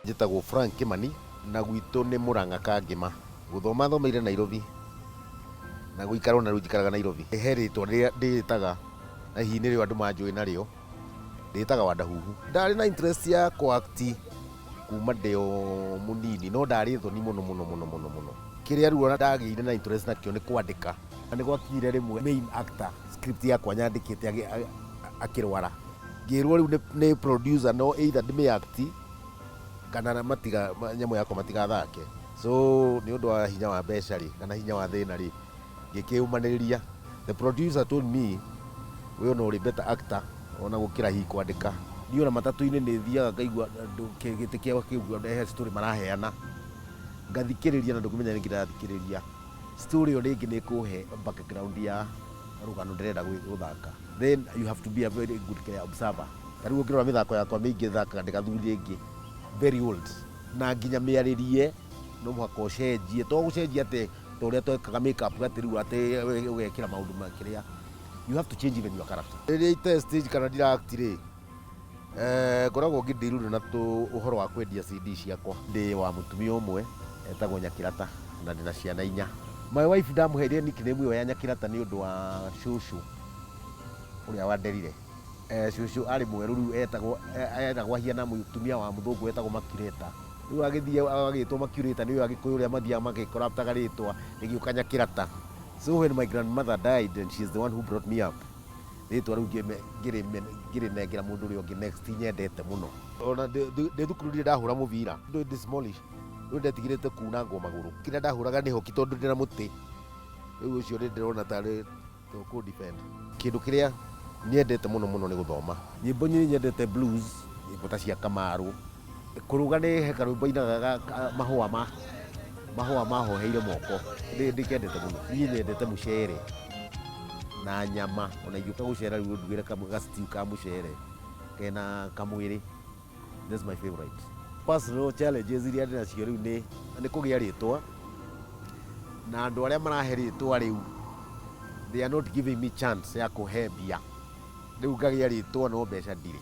Njĩtagwo Frank Kĩmani na gwitũ nĩ Mũrang'a Kangĩma. Gũthoma thomeire Nairobi na gũikara o na rĩu njikaraga Nairobi. He rĩtwa rĩrĩa ndĩĩtaga na hihi nĩrĩo andũ manjũĩ narĩo, ndĩĩtaga Wandahuhu. Ndarĩ na interest ya kũ act kuma ndĩ o mũnini no ndarĩ thoni mũno mũno mũno mũno. Kĩrĩa rĩu ndagĩire na interest nakĩo nĩ kwandĩka. Na nĩgwakinyire rĩmwe main actor script yakwa nyandĩkĩte agĩ- a- a- akĩrwara ngĩrwo rĩu nĩ- nĩ producer no either ndĩmĩ act kana na- matiga ma- nyamũ yakwa matigathake so nĩ ũndũ wa hinya wa mbeca rĩ kana hinya wa thĩna rĩ ngĩkĩyũmanĩrĩria the producer told me we ona ũrĩ better actor ona gũkĩra hi kwandĩka niĩ ona matatũ-inĩ nĩ thiaga ngaigua andũ kĩ- gĩtĩ kĩao kĩu he story maraheana ngathikĩrĩria na ndũkĩmenya nĩ kĩrathikĩrĩria Story ĩyo rĩngĩ nĩ ĩkũhe background ya rũgano ndĩrenda gwĩ- gũthaka. Then you have to be a very good kĩrĩa observer. Ta rĩu ũngĩrora mĩthako yakwa mĩingĩ thakaga ndĩ gathuri rĩngĩ, very old. Na nginya mĩarĩrie no mũhaka ũcenjie. To gũcenjia atĩ ta ũrĩa twekaga make up atĩ rĩu atĩ ũgekĩra maũndũ ma kĩrĩa. You have to change even your character. Rĩrĩa ite stage kana ndira act rĩ, Eh, ngoragwo ngĩdeal na tũ ũhoro wa kwendia CD ciakwa. Ndĩ wa mũtumia ũmwe etagwo Nyakĩrata na ndĩ na ciana inya. My wife ndamũheire nickname ĩyo ya Nyakĩrata nĩ ũndũ wa cũcũ ũrĩa wanderire. Eh, cũcũ arĩ mwerũ rĩu etagwo eh, etagwo ahiana mũtumia wa mũthũngũ wetagwo Makureta. Rĩu agĩthiĩ agagĩtwo Makureta nĩwe Agĩkũyũ ũrĩa mathiaga magĩcorruptaga rĩtwa rĩgĩũka Nyakĩrata. So when my grandmother died and she is the one who brought me up, rĩtwa rĩu ngĩrĩnengera mũndũ ũrĩa ũngĩ next nyendete mũno ona ndĩ thukuru ndirĩ ndahũra mũbira ndĩ ndĩ smallish rĩu ndetigĩrĩte kunangwo magũrũ kĩrĩa ndahũraga nĩ hoki tondũ ndĩ na mũtĩ rĩu ũcio nĩ ndĩrona tarĩ kũ defend kĩndũ kĩrĩa nyendete mũno mũno nĩ gũthoma nyĩmbo nyingĩ nyendete blues nyĩmbo ta cia kamarũ Kũruga nĩ he karwĩmbo ainaga ga ka- mahũa ma mahũa mahoheire moko Nĩ- ndĩkendete mũno niĩ nyendete mũcere na nyama ona ingĩũka gũcera rĩu ndugĩre kamũ- ga stew ka mũcere kena kamwĩrĩ that's my favorite personal challenges iria ndĩ nacio rĩu nĩ nĩ kũgĩa rĩtwa na andũ arĩa marahe rĩtwa rĩu they are not giving me chance ya kũhe mbia rĩu ngagĩa rĩtwa no mbeca ndirĩ